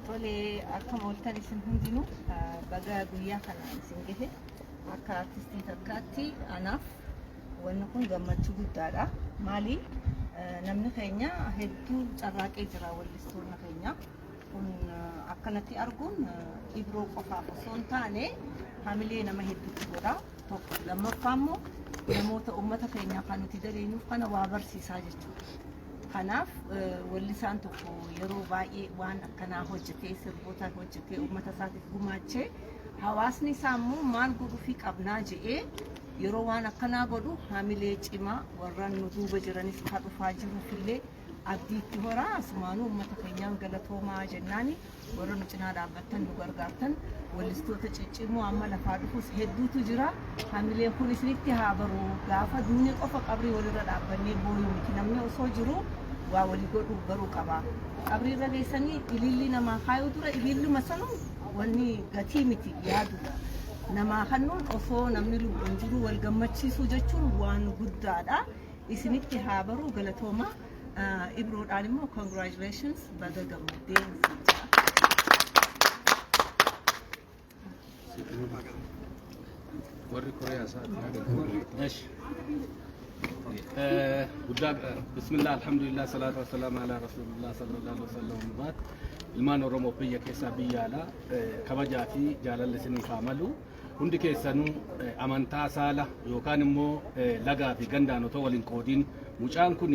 Tolee akkam ooltan isin hundinuu ah, baga guyyaa kana isin gahe akka artistii takkaatti anaaf wanni kun gammachuu guddaadha. Maali? Ah, Namni keenya hedduu carraaqee jira wallistoonni keenya. kun akkanatti arguun ibroo qofaaf osoo hin taane hamilee nama hedduutti godha tokko lammaffaa immoo namoota uummata keenyaa kan nuti dareenyuuf kana waa barsiisaa jechuudha. Kanaaf wallisaan tokko yeroo baay'ee waan akkanaa hojjetee sirboota hojjetee uummata isaatiif gumaachee hawaasni isaa immoo maal godhuufii qabnaa je'ee yeroo waan akkanaa godhu hamilee cimaa warra nu duuba jiranis ka dhufaa jiruuf illee Abdiitti horaa asumaanuu uummata keenyaan galatoomaa jennaani warra nu cinaa dhaabbattan nu gargaartan wallistoota ciccimoo amma lafaa dhufus hedduutu jira hamilee kun isinitti haa baru gaafa duune qofa qabrii walirra dhaabbannee booyuu miti namni osoo jiru waa walii godhuu baruu qaba qabrii irra geessanii ilillii namaa kaayuu dura ililluma sanuu wanni gatii miti yaaduudha namaa kannuun osoo namni lubbuun jiru wal gammachiisuu jechuun waan guddaadha. isinitti haa baruu galatoomaa Ah, ibroodhaan immoo congratulations baga gammaddee siin jedha. warri koreyaa isaati guddaa bismillah alhamdulillah salaatu wassalaam ala rasulillah sallallahu alaihi wasallam baat ilmaan oromoo biyya keessaa biyya alaa eh, kabajaa fi jaalalli isiniif haa malu Hundi keessanuu amantaa, saala yookaan immoo lagaa fi gandaan otoo wal hin qoodiin mucaan kun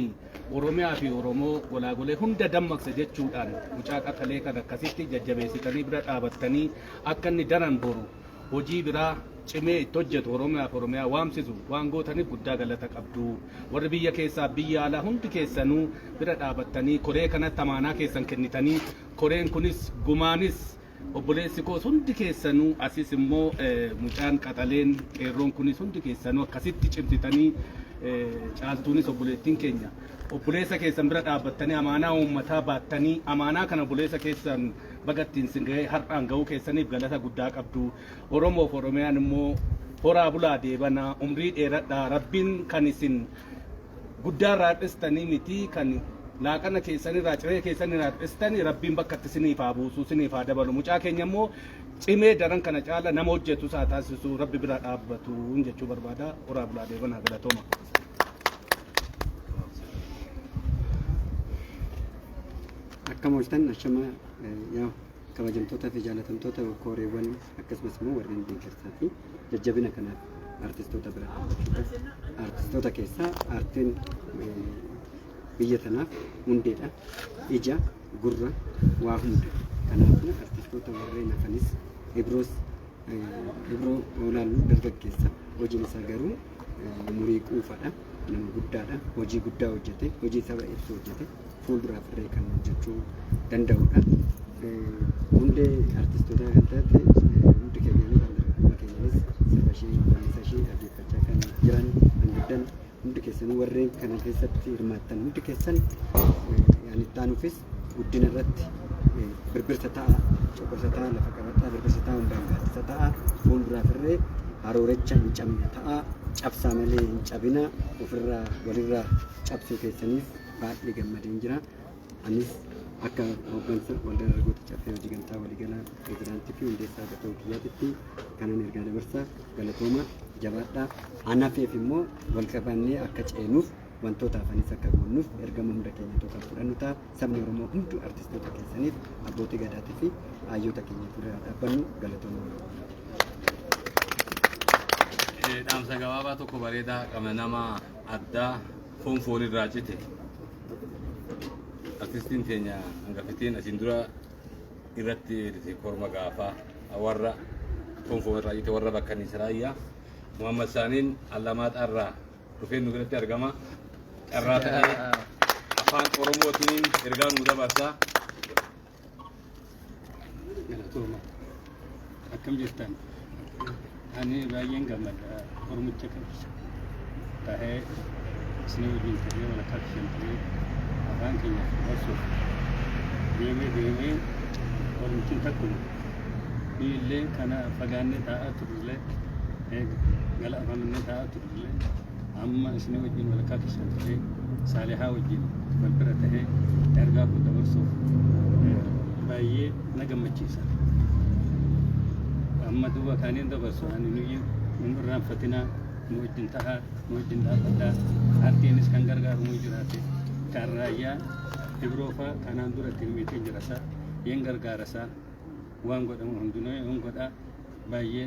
Oromiyaa fi Oromoo golaagolee hunda dammaqse jechuudhaan mucaa qaxalee kan akkasitti jajjabeessitanii bira dhaabattanii akka inni daran boru hojii biraa cimee itti hojjetu Oromiyaa fi Oromiyaa waamsisu waan gootaniif guddaa galata qabdu. Warri biyya keessaa biyya alaa hundi keessanuu bira dhaabattanii koree kanatti amaanaa keessan kennitanii koreen kunis gumaanis Obboleessi koos hundi keessanuu asis immoo mucaan qaxaleen qeerroon kunis hundi keessanuu akkasitti cimsitanii caaltuunis obboleettiin keenya obboleessa keessan bira dhaabbattanii amaanaa uummataa baattanii amaanaa kana obboleessa keessan baga ittiin sin ga'ee har'aan ga'uu keessaniif galata guddaa qabdu. Oromoof Oromiyaan immoo horaa bulaa deebanaa umrii dheeradhaa rabbiin kan isin guddaa irraa hir'istanii mitii kan laaqana keessan irraa ciree keessan irraa hir'istani rabbiin bakkatti siniif haa buusu siniif haa dabalu mucaa keenya immoo cimee daran kana caala nama hojjetu isaa taasisu rabbi bira dhaabbatu jechuu barbaada horaa bulaa deebanaa galatooma. Akka mooltan ashama yaa kabajamtootaa fi jaalatamtoota kooreewwan akkasumas immoo warreen deeggarsaa fi jajjabina kana artistoota bira dhaabbachuudha. Artistoota keessaa aartiin eh, biyya tanaaf hundeedha. Ija, gurra, waa hunda. Kanaafuu artistoota warreen hafanis Ibroos eh, Ibroo Oolaaluu dargaggeessa hojiin isaa garuu eh, umurii quufadha. Nama guddaadha. Hojii guddaa hojjete. Hojii saba ibsu hojjete. fuulduraaf illee kan hojjechuu danda'udha. Hundee artistootaa kan taate hundi keenyaanis handargaggummaa keenyaanis sirba ishee wallisaa ishee dhaggeeffachaa kan jiran kan guddan hundi keessanuu warreen kana keessatti hirmaattan hundi keessan yaani itti aanuufis guddina irratti birbirsa ta'a coqorsa ta'a lafa qabataa birbirsa ta'a hundaan gaaddisa ta'a fuulduraaf irree haroorecha hin cabne ta'a cabsaa malee hin cabina ofirraa walirraa cabsuu keessaniif baay'ee gammadeen jira. Anis akka hooggansa waldaa dargaggoota caffee hojii gamtaa waliigalaa pirezidaantii fi hundeessaa gatuu kiyyaatitti kanan ergaa dabarsa galatooma jabaadhaa. Anafeef immoo wal qabannee akka ceenuuf wantoota hafanis akka goonnuuf ergama hunda keenyatu kan fudhannu ta'a. Sabni Oromoo hunduu artistoota keessaniif abbootii gadaatii fi hayyoota keenya fuuldura dhaabbannu galatooma. dhaamsa gabaabaa tokko bareedaa qabna nama addaa foon foon irraa cite artistiin keenya hangafitiin asiin dura irratti eerite korma gaafaa warra foon foon irraa cite warra bakka nisraayyaa Muhammad Saaniin Allamaaxaa irraa dhufee nu biratti argama carraa ta'ee afaan oromootiin ergaa nu dabarsaa Galatooma. Akkam jirtan? Ani baay'een gammada Oromicha qabsa. Tahee isin wajjin ta'ee wal akka isheen ta'ee afaan keenya barsuuf deemee deemee Oromichin takkuma. Illee kana fagaannee taa'aa turrellee gala afaan minnee taa'aa turrellee amma isinii wajjin walakkaa keessan ta'ee saalihaa wajjin wal bira ta'ee ergaa kun dabarsuuf baay'ee na gammachiisa. Amma duuba kaaniin dabarsu ani nuyi hin irraanfatinaa nu wajjin tahaa nu wajjin dhaabbataa ardiinis kan gargaaru nu jiraate kan raayyaa ibroofaa kanaan dura ittiin miitiin jirasaa hin gargaarasaa waan godhamu hundinuu hin godhaa baay'ee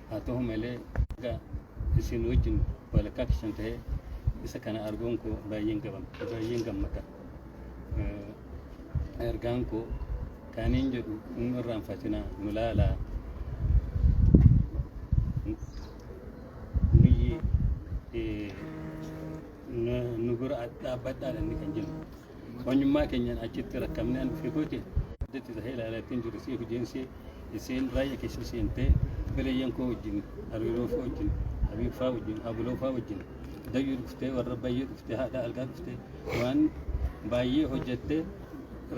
Haa ta'u malee erga isin wajjin walakkaa keessan ta'ee isa kana arguun koo baay'een gabam baay'een gammada. Eh, Ergaan koo kaaniin jedhu inni irraanfatinaa nu laalaa nuyyi eh, nu nu bira dhaabbadhaa inni kan jennu. Manyummaa keenyaan achitti rakkamnee an dhufee kooti addatti tahee ilaalaa ittiin jiru siif ijeensee iseen raayya keessa seentee bireeyyan koo wajjin hariiroo faa wajjin habiib faa wajjin abuloo faa wajjin dayyuu dhuftee warra bayyee dhuftee haadha argaa dhuftee waan baay'ee hojjettee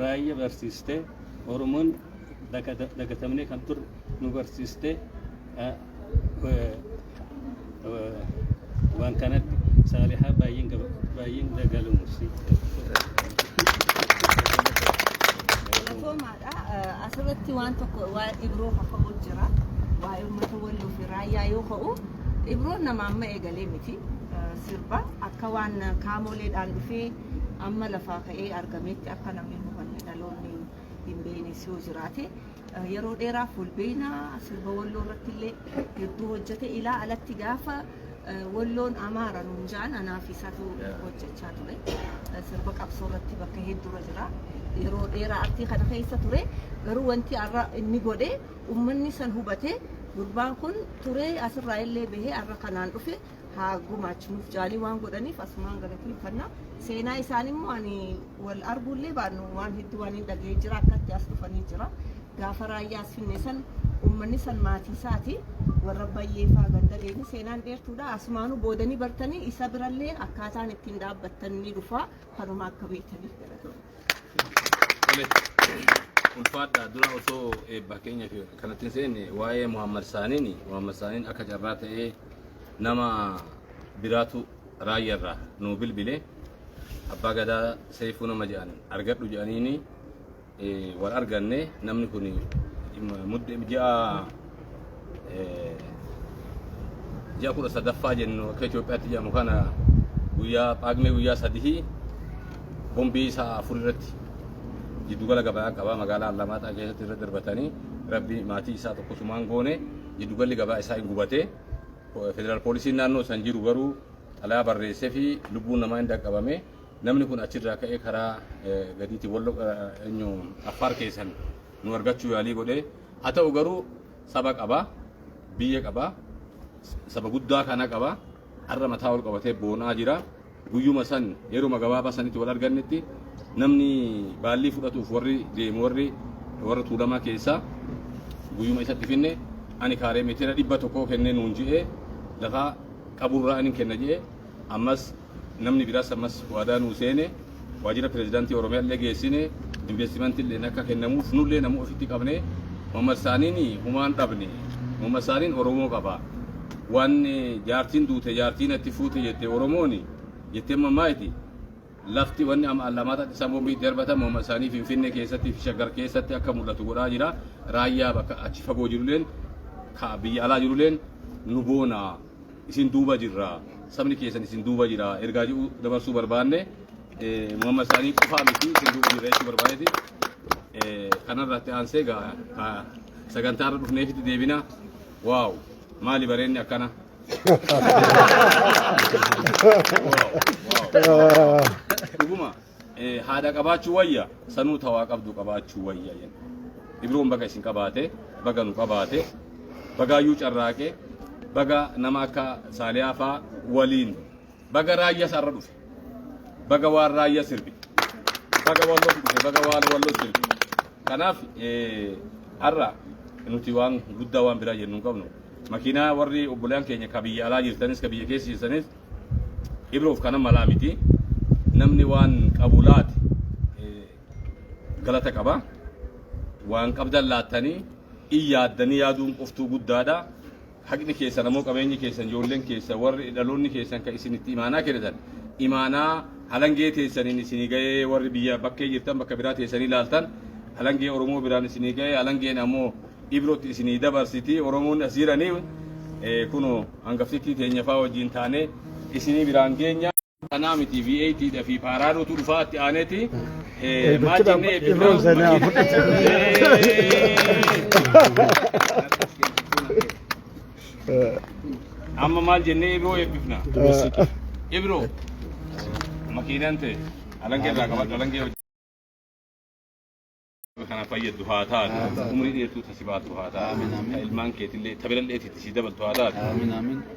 raayya barsiistee oromoon dagatamnee kan turre nu barsiistee waan kanatti saalihaa baay'een gaba- baay'een dagalumus Galatoomaadha. Eh, Asirratti waan tokko waa'ee Ibroo kaka'uu jira. Waa'ee uummata walloo fi raayyaa yoo ka'u, Ibroon nama amma eegalee miti. Eh, Sirba akka waan kaamoleedhaan dhufee amma lafaa ka'ee argametti akka namni hubanne dhaloonni hin beeknes yoo jiraate Yeroo dheeraaf wal beeyna sirba walloo irratti illee hedduu hojjete ilaa alatti gaafa walloon amaara nuun ja'an anaa fi isaatu hojjechaa ture. Sirba qabsoo irratti bakka hedduurra jira. Yeroo dheeraa artii kana keessa ture garuu wanti har'a inni godhe uummanni san hubate gurbaan kun turee asirraa illee bahee har'a kanaan dhufe haa gumaachu nuuf jaalii waan godhaniif asumaan galateeffanna seenaa isaan immoo ani wal arguullee baannu waan hedduu waan hin dhaga'ee jira akkatti as dhufanii jira gaafa raayyaa as finne san uummanni san maatii isaati warra bayyee faa ganda deemni seenaan dheertuudha asumaanuu boodanii bartanii isa birallee akkaataan ittiin dhaabbattan ni dhufa kanuma akka beektaniif galatoomaa. ulfaadha dura osoo eebbaa keenya fi kanatti hin seenne waa'ee Muhammad Saaniin Muhammad Saaniin akka carraa ta'ee nama biraatu raayya irraa nuu bilbile abbaa gadaa seefuu nama jedhan argadhu jedhaniini eh, wal arganne namni kun mudde ji'a eh, ji'a kudha sadaffaa jennu akka Itoophiyaatti jedhamu kana guyyaa phaagmee guyyaa sadihii bombii sa'a afur irratti jiddugala gabaa qabaa magaalaa Allamaaxaa keessatti irra darbatanii rabbi maatii isaa tokkosumaan goone jiddugalli gabaa isaa hin gubate. Federal poolisiin naannoo san jiru garuu xalaa barreessee fi lubbuun namaa hin dhaqqabame. Namni kun achirraa ka'ee karaa gadiitti wallo eenyu affaar keessan nu argachuu yaalii godhee. Haa ta'u garuu saba qaba, biyya qaba, saba guddaa kana qaba. Har'a mataa ol qabatee boonaa jira. Guyyuma san yeruma gabaabaa sanitti wal argannetti namni baallii fudhatuuf warri deemu warri warra tuulamaa keessaa guyyuma isatti finne ani kaaree meetira dhibba tokkoo kennee nuun je'ee lafaa qaburraa anin kenna je'e ammas namni biraas ammas waadaa nuu seene waajjira pirezidaantii Oromiyaa illee geessine investimentii illee akka kennamuuf nullee nama ofitti qabne Muhammad Saaniin humaan dhabne Muhammad Saaniin Oromoo qaba. Waan jaartiin duute jaartii natti fuute jette Oromooni jetteen mammaayti. Lafti wanni amma Allamaataatti isaan bombii itti darbatan morma isaanii Finfinnee keessatti fi Shaggar keessatti akka mul'atu godhaa jira. Raayyaa bakka achi fagoo jiruleen ka biyya alaa jiruleen nu boona isin duuba jirra sabni keessan isin duuba jira ergaa jedhu dabarsuu barbaanne morma isaanii qofaa miti isin duuba jirra jechuu barbaadeeti. Kanarratti aansee sagantaa irra dhufneefitti deebina. Waaw! Maali bareenni akkana? Dhuguma eh, haadha qabaachuu wayya sanuu tawaa qabdu qabaachuu wayya jenna. Ibroon baga isin qabaate baga nu qabaate bagaayyuu carraaqe baga nama akka saaliyaa faa waliin Baga raayya sarra dhufe. Baga waan raayya sirbi. Baga walloof dhufe. Baga waan walloo sirbi. Kanaaf eh, har'a nuti waan guddaa waan biraa jennu hin qabnu. Makiinaa warri obbolaan keenya ka biyya alaa jirtanis ka biyya keessa jirtanis ibroof kana malaa miti. Namni waan qabu laate eh, galata qaba. Waan qabdan laattanii in yaaddanii yaaduun qoftuu guddaadha. Haqni keessan ammoo qabeenyi keessan, ijoolleen keessan, warri dhaloonni keessan kan isin itti imaanaa kennitan, imaanaa halangee teessaniin isinii gahee warri biyya bakkee jirtan bakka biraa teessanii laaltan, halangee Oromoo biraan isinii gahee, halangeen ammoo Ibrootti isinii dabarsiti, Oromoonni as jiranii eh, kunoo hangaftittii teenya faa wajjin taanee isinii biraan geenya. Kanaa miti V8 dha fi paaraadotu dhufaa itti aaneeti. Maal jennee eebbifnaa? Irroon seenaa Amma maal jennee Ibroo eebbifnaa? Ibroo makiinaan ta'e alangee irraa qabadhu alangee hojii. kana fayyaddu haa taatu umrii dheertuu tasi baatu haa taatu ka ilmaan keetillee ta birallee itti si dabaltu haa taatu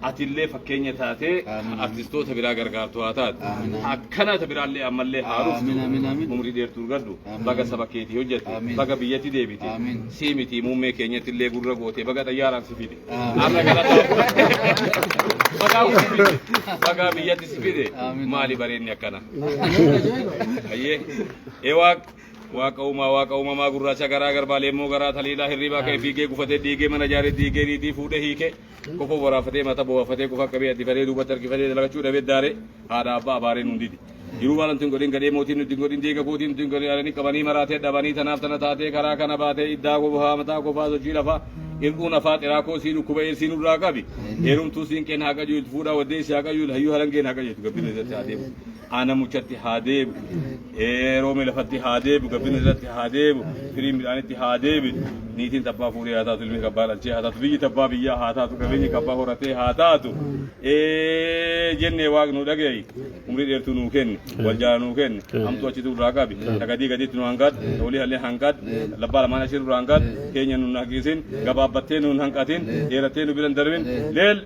atillee fakkeenya taatee artistoota biraa gargaartu haa taatu akkana ta biraallee ammallee haa dhuftu umrii dheertuu argadhu baga saba keetii hojjette baga biyyatti deebite sii miti muummee keenyattillee gurra goote baga xayyaaraan si fide arra galataa bagaa si fide bagaa biyyatti si fide maali bareenni akkana ayyee ewaaq Waaqa uumaa waaqa uumamaa gurraacha garaa garbaa leemmoo garaa taliilaa hirriibaa ka'e fiigee gufatee diigee mana jaaree diigee niitii fuudhee hiikee kofoo waraafatee mata boo'afatee kofaa qabee addifatee duubatti harkifatee dalagachuu dhabee daaree haadha abbaa abaaree nuun didi. Jiruu waan nuti hin godhin gadhee mootiin nuti hin godhin deega kootiin nuti hin godhin alanii qabanii maraatee dhabanii tanaaf tana taatee karaa kana baatee iddaa kofaa mataa kofaa sochii lafaa ir'uu nafaa xiraa koo sii dhukkuba eessii nurraa qabi heerumtuu siin qeen haa qajeeltu fuudhaa waddee si haa qajeeltu hayyuu harangeen haa qajeeltu gabbina isatti haa deemu. Aana muchatti haa deebu, roome lafatti haa deebu, gabbin irratti haa deebu, firiin midhaanitti haa deebi. Niitiin tabbaa fuudhee haa taatu, ilmi kabbaa dhalchee haa taatu, biyyi tabbaa biyyaa haa taatu, qabeenyi kabbaa horatee haa taatu. Jennee waaqni nu dhaga'i. Umrii dheertuu nuu kenni, wal jaala nuu kenni, hamtuu achitti irraa qabi, ta gadii gadiitti nu hanqadhu, ta olii hallee hanqadhu, labbaa lamaan ashiirru irraa hanqadhu, keenya nu hin hanqisin, gabaabbattee nu hin hanqatin, dheerattee nu bira hin darbin. Leel!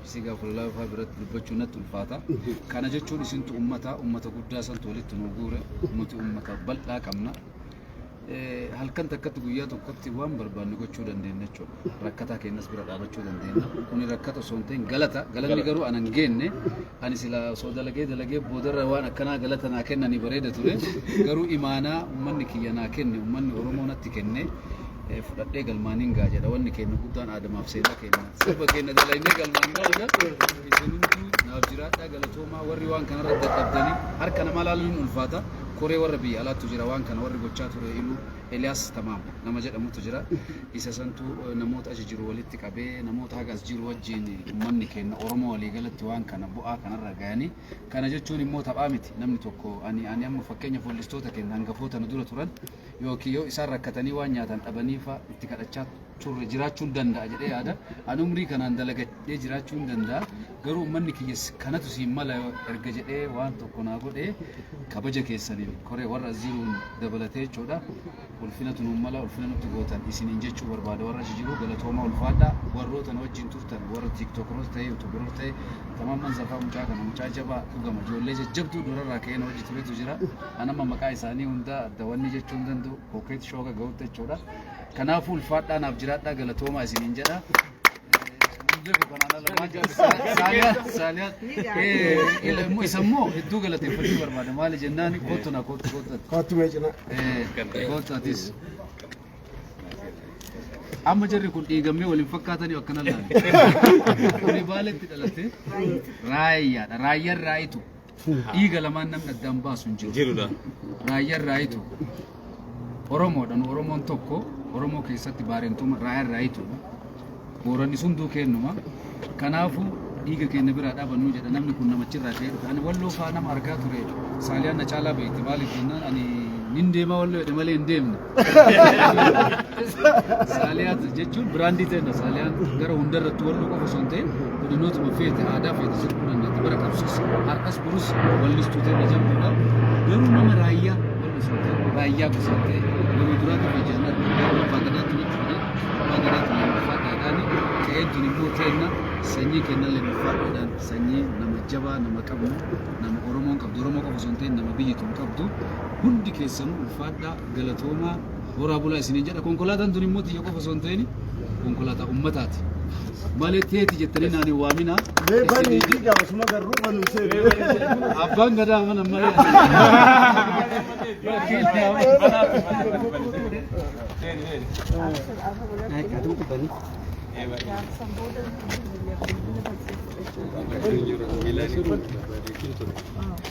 Ibsii gaa kudha laafaa biratti dubbachuu natti ulfaata. Kana jechuun isintu ummata ummata guddaa santu walitti nu guure nuti ummata bal'aa qabna. Eh, Halkan takkatti guyyaa tokkotti waan barbaanne gochuu dandeenya jechuudha. Rakkataa keenyas bira dhaabachuu dandeenya. Kuni rakkata osoo hin ta'in galata. Galanni Galata. garuu anan geenne Ani silaa osoo dalagee dalagee boodarra waan akkanaa galata naa kennanii bareeda ture. Garuu imaanaa ummanni kiyya naa kenne, ummanni Oromoo natti kenne eh, fudhadhee galmaan hin ga'a jedha. Wanni keenna guddaan aadamaaf seenaa keenna. Sirba keenna dalaynee galmaan ga'uudha. Isin hunduu naaf jiraadhaa galatoomaa warri waan kanarra dadhabdanii harka namaa laaluun hin ulfaata. Koree warra biyya alaattu jira waan kana warri gochaa ture iluu Eliyaas Tamaam nama jedhamutu jira. Isa santu namoota achi jiru walitti qabee namoota haga as jiru wajjin uummanni keenya Oromoo waliigalatti waan kana bu'aa kanarra gahanii kana jechuun immoo taphaa miti namni tokko ani ani amma fakkeenya foollistoota keenya hangafoota nu dura turan yookiin yoo isaan rakkatanii waan nyaatan dhabanii fa'a itti kadhachaa turre jiraachuun danda'a jedhee yaada ani umrii kanaan dalagadhee jiraachuun danda'a garuu uummanni kiyya kanatu siin mala erga jedhee waan tokko naa godhee kabaja keessaniin koree warra as jiruun dabalatee jechuudha. Ulfinatu nuun mala ulfina nutti gootan isiniin jechuu barbaada warra achi jiru galatooma ulfaadha warroota nu wajjin turtan warra tiiktookroota ta'e yuutuuberoota ta'e tamamman zafaa mucaa kana mucaa jabaa dhugama ijoollee jajjabduu durarraa ka'ee nu wajji turetu jira anamma maqaa isaanii hundaa adda wanni jechuu hin danda'u kookeet shooga ga'utti jechuudha kanaafuu ulfaadhaa naaf jiraadhaa galatoomaa isiniin jedha Isa immoo hedduu galateeffachuu barbaada. Maali jennaan kootu na kootu kootu ati. Kootu mee cina. Kootu atis. Amma jarri kun dhiigammee waliin fakkaatanii akkana laala. Kuni baaletti dhalatee raayyaadha. Raayyaan raayitu. Dhiiga lamaan namni addaan baasu hin jiru. Jirudha. Raayyaan raayitu Oromoodha. Nu Oromoon tokko Oromoo keessatti baarentuma raayyaan raayitu. Booranni hunduu kennuma. Kanaafuu dhiiga keenya biraa dhaabannuu jedha namni kun namachirraa ka'ee dhufe. Ani walloo faa nama argaa ture. Saaliyaan na caalaa beekti. Maaliif jennaan ani nin deema walloo jedhe malee hin deemne. Saaliyaat jechuun biraandii ta'edha. Saaliyaan gara hundarratti wal qofa osoo hin ta'in godinootuma feete aadaa feete sirbuun dandeetti bara qabsiis har'as burus wallistuu ta'e jabduudha. Garuu nama raayyaa wallisuu ta'e raayyaa gosa ta'e nama duraatu fi jaalala abbaa gadaatu ni fide abbaa gadaatu ni ulfaa dhaadhaani ta'ee tuni immoo ta'enna sanyii kennan leen ulfaa dhaadhaan sanyii nama jabaa nama qabnu nama Oromoon qabdu Oromoo qofa osoo hin ta'in nama biyyi tun qabdu hundi keessanuu ulfaadhaa galatoomaa horaa bulaa isiniin jedha konkolaataan tun immoo tiyya qofa osoo hin ta'in konkolaataa ummataati malee teeti jettanii naan hin waaminaa Mee bani isiniin fi jedha. gaafasuma garruu banu seenu. abbaan gadaa mana malee Thank you.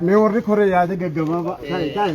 Mee warri koree yaada gaggabaabaa. Taa'e taa'e.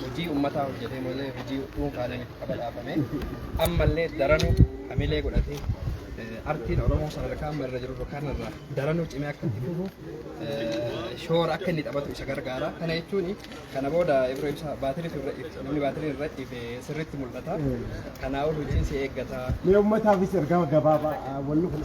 hojii ummataa hojjetee malee hojii dhuunfaalee miti qaba dhaabame ammallee daranuu hamilee godhatee eh, artiin Oromoo sadarkaa amma irra jiru kanarraa daranuu cimee akka itti fufu eh, shoora akka inni taphatu isa gargaara. Kana jechuun kana booda ibra ibsa baatirii irra ibsa namni baatirii irra ife sirriitti mul'ata. Kanaa ol hojiin si eeggata. Mee uummataafis ergaa gabaabaa wanni kun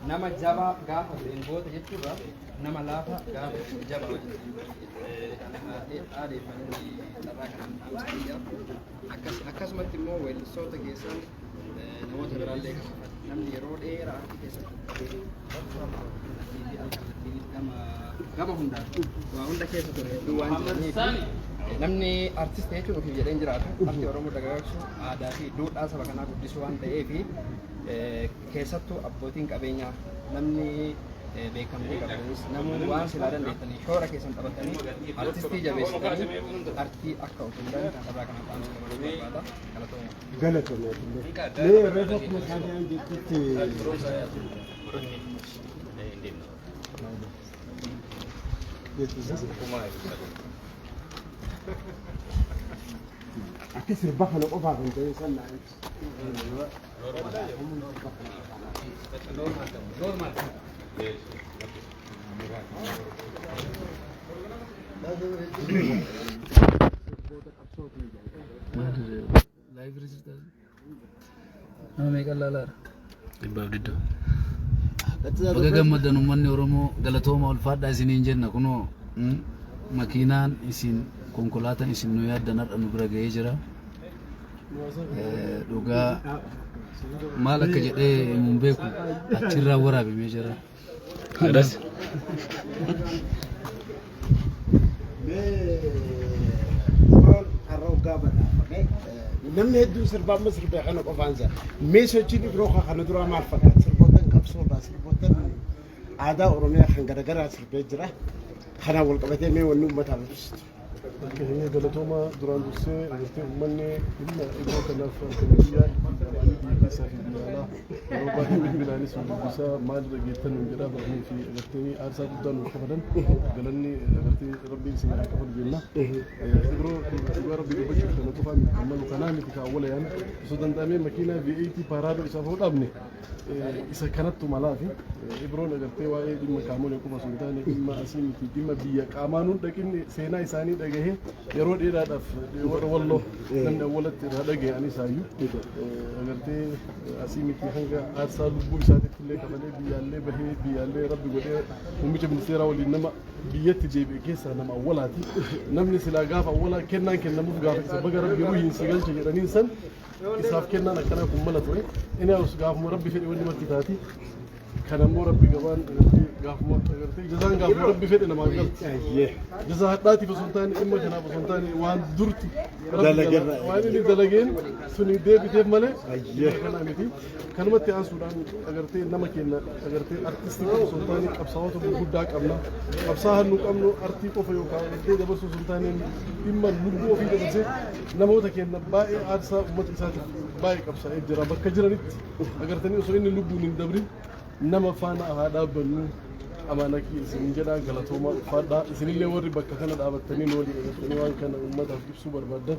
nama jabaa gaafa ta'een goota jechuudha. nama laafa gaafa jaba adeeffannoo carraa kana dhaamsaniidha. Akkasumatti immoo weellistoota keessaa namoota biraallee qaba. Namni yeroo dheeraa harki keessatti qabee gama hundaan waa hunda keessa ture hedduu waan jiraniif namni artist jechuun ofiif jedhee hin jiraatu. Arti Oromoo dagaagsuun aadaa fi duudhaa saba kanaa guddisuu waan ta'eef Keessattuu abbootiin qabeenyaa namni beekamtii qabdanis namoonni waan silaa dandeettanii shoora keessan taphattanii artistii jabeessitanii artii akka of hundan carraa kana dhaamsa dabaluu barbaada galatooma. Galatooma illee. Mee reefa kuma saadiyaan jettutti. Akka sirba kana qofaaf hin ta'in sannaa. Nama meeqan laalaara? Dhibbaaf didda. Baga gammaddan uummanni Oromoo galatooma ulfaadhaa isiniin jenna kunoo mm, makiinaan isin konkolaataan isin nu yaaddan har'a nu bira ga'ee jira. Eh, Dhugaa maal akka jedhee himuun beeku achirraa waraabamee jira. Adas. Roon har'a hoggaa badhaafame namni hedduun sirbaa amma sirbee kana qofaan isaa mee sochiin ibroo kaa kana duraa maal fakkaata sirboottan qabsoodha sirboottan aadaa oromiyaa kan garagaraa sirbee jira kanaan wal qabatee mee wanni uummataa barsiistu. Bakka keenya galatooma duraan dursee jirtee uummanni humna iddoo kanaaf argame biyyaa ittiin dhabanii biyya keessaa fi biyya alaa yeroo baay'ee bilbilaanis nu dubbisaa maalirra geettan nuun jedhaa barnii fi agartanii aarsaa guddaa nuuf kafalan galanni agartee rabbiin isin haa kafalu jenna. Yeroo dhugaa rabbii dubbachuuf kana qofaa miti kan malu kanaa miti kan awwalayaan osoo danda'amee makiinaa V8 paaraadoo isaaf hoo dhaabne isa kanattu malaafi ibroon agartee waa'ee dhimma qaamolee qofa osoo hin taane dhimma asii miti dhimma biyya qaamaan hin dhaqin seenaa isaanii dhagahee yeroo dheeraadhaaf warra walloo namni awwalatti irraa dhagahe ani isaayyuu agartee asii miti hanga aarsaa lubbuu isaatitti illee qabalee biyyaallee bahee biyyaallee rabbi godhee muummicha ministeeraa waliin nama biyyatti deebi'e keessaa nama awwalaati namni silaa gaafa awwalaa kennaan kennamuuf gaafa isa baga rabbi ruhiin si galche jedhaniin san isaaf kennaan akkanaa kun mala ture inni haus gaafuma rabbi fedhe wanni marti taati kan ammoo rabbi gabaan agartee gaafuma agartee jazaan gaafuma rabbi fedhe namaa galti jazaa hadhaatiif osoo hin taane dhimma kanaaf osoo hin taane waan durti rabbi Dalagerra. waan inni dalageen suni deebiteef malee Ayyee. kanaa miti kanumatti aansuudhaan agartee nama keenya agartee artistii qofa osoo hin taane qabsaa'ota gurguddaa qabna qabsaa'aa nu qabnu artii qofa yookaan agartee dabarsuu osoo hin taane dhimma lubbuu ofii dabarsee namoota keenya baay'ee aarsaa uummata isaatiif baay'ee qabsaa'ee jira bakka jiranitti agartanii osoo inni lubbuun hin dabrin nama faana haa dhaabbannu amaana kiyya isin jedha galatoomaa ulfaadhaa isinillee warri bakka kana dhaabattanii nu waliin agartanii waan kana uummataaf ibsuu barbaaddan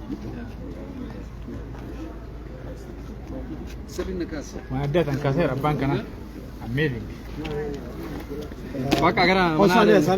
Waan addaa tan kaaseera abbaan kana. Ammeeli. Bakka gara manaa deemu.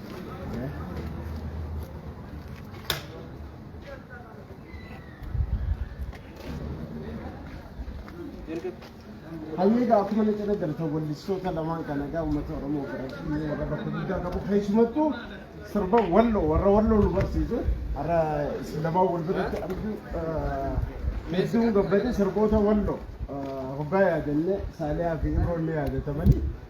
Hayyee egaa akkuma inni jedhe galata wallistoota lamaan kana egaa uummata Oromoo biratti warra bakka guddaa qabu keessumattuu sirba walloo warra walloo nu barsiisu har'a isin lamaan wal biratti argu hedduun gabbate sirboota walloo hoggaa yaadannee saaliyaa fi imroon ni yaadatamanii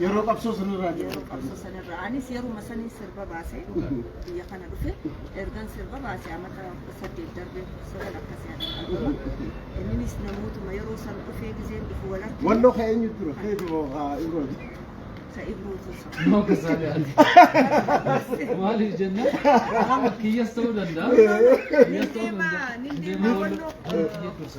Yeroo qabsoo sanirraa yeroo qabsoo sanirra anis yeruma saniin sirba baase biyya kana dhufe ergan sirba baase amata kudha saddeet darbee kudha sagal akkas yaadama inninis namootuma yeroo san dhufee gizeen dhufu walatti Walloo ka eenyu dura? Keetu haa ibrooti. isa ibruutu isa Nama kasaalee ati. Maaliif jennaan nama kiyyas ta'uu danda'a. Kiyyas ta'uu danda'a. Nindeema, nindeema Walloo. walloo. Kiyya dursa.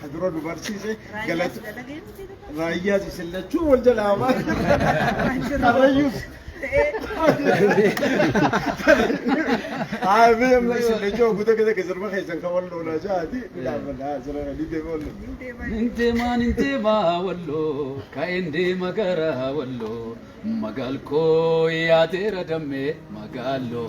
ka dura nu barsiise galata raayyaas isin lachuu wal jalaa waan karrayyuus haa mee amma isin lachuu guuta keessa keessarma keessan kan wal loolaa jaati dhaabbadhaa jira ni deema wal Nindeemaa nindeemaa walloo ka'een deema gara walloo magaal koo yaadeera dammee magaaloo.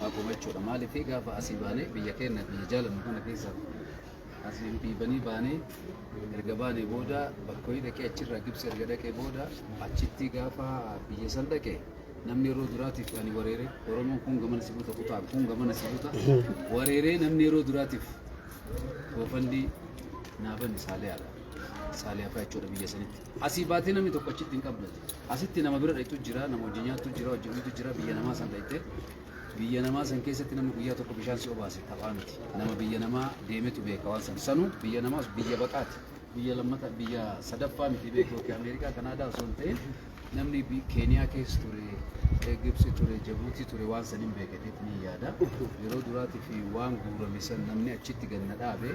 haa qomu jechuudha. Maaliif gaafa asii baanee biyya keenya biyya jaalannu kana keessa asii dhiibanii baanee erga baanee booda bakka wayii dhaqee achirraa gibsi erga dhaqee booda achitti gaafa biyya san dhaqe namni yeroo duraatiif ani wareeree Oromoon kun gamana si buta kutaan kun gamana si buta wareeree namni yeroo duraatiif goofandii naaban saaliyaadha. Saaliyaa fa'aa jechuudha biyya sanitti. Asii baatee namni tokko achitti hin qabdatu. Asitti nama bira dhayxu jira, nama hojii nyaattu jira, hojii dhuytu jira, biyya namaa san dhayxee. Biyya namaa san keessatti namni guyyaa tokko bishaan si obaase taphaa miti. Nama biyya namaa deemetu beeka waan san. Sanuu biyya namaas biyya baqaati. Biyya lammata biyya sadaffaa miti beeku yookiin Ameerikaa Kanaadaa osoo hin ta'in namni bi- Keeniyaa keessa ture, eh, Gibsi ture, Jabuutii ture waan san hin beeketeet ni yaada. Yeroo duraatiif waan guurame san namni achitti ganna dhaabe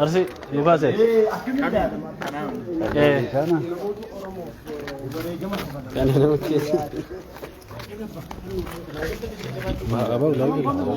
Arsi nu kaase. Eh. Kana. Kana nama keessa. Abaa ulaa.